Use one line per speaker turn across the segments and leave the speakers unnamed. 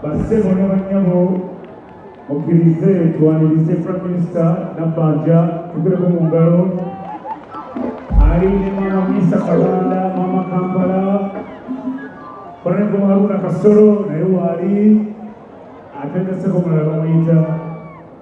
bassebo ne bannyabo mukkirize tuwanirize prime minister nabbanja tugereko mu ngalo ali ne mama misa kalanda mama kampala kolonegoma haruna kasolo naye waali ategeseko mulala bamuyita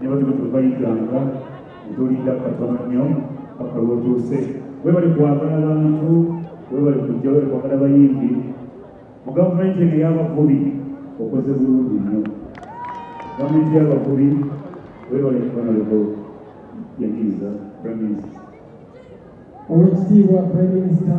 ne bano bwe tubayiganga ntulinda katono nnyo paka lwotuuse webali kwagala bantu webali kujja webali kwagala bayimbi mu gavumenti eno eyabavubi okoze bulungi nnyo gavumenti yabavubi webali kubanaleko yagiriza prime minister
owekitiibwa prime minister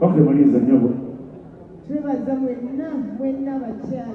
Okay,
maliza
nyabo.
Twebaza mwenna
mwenna
bakyala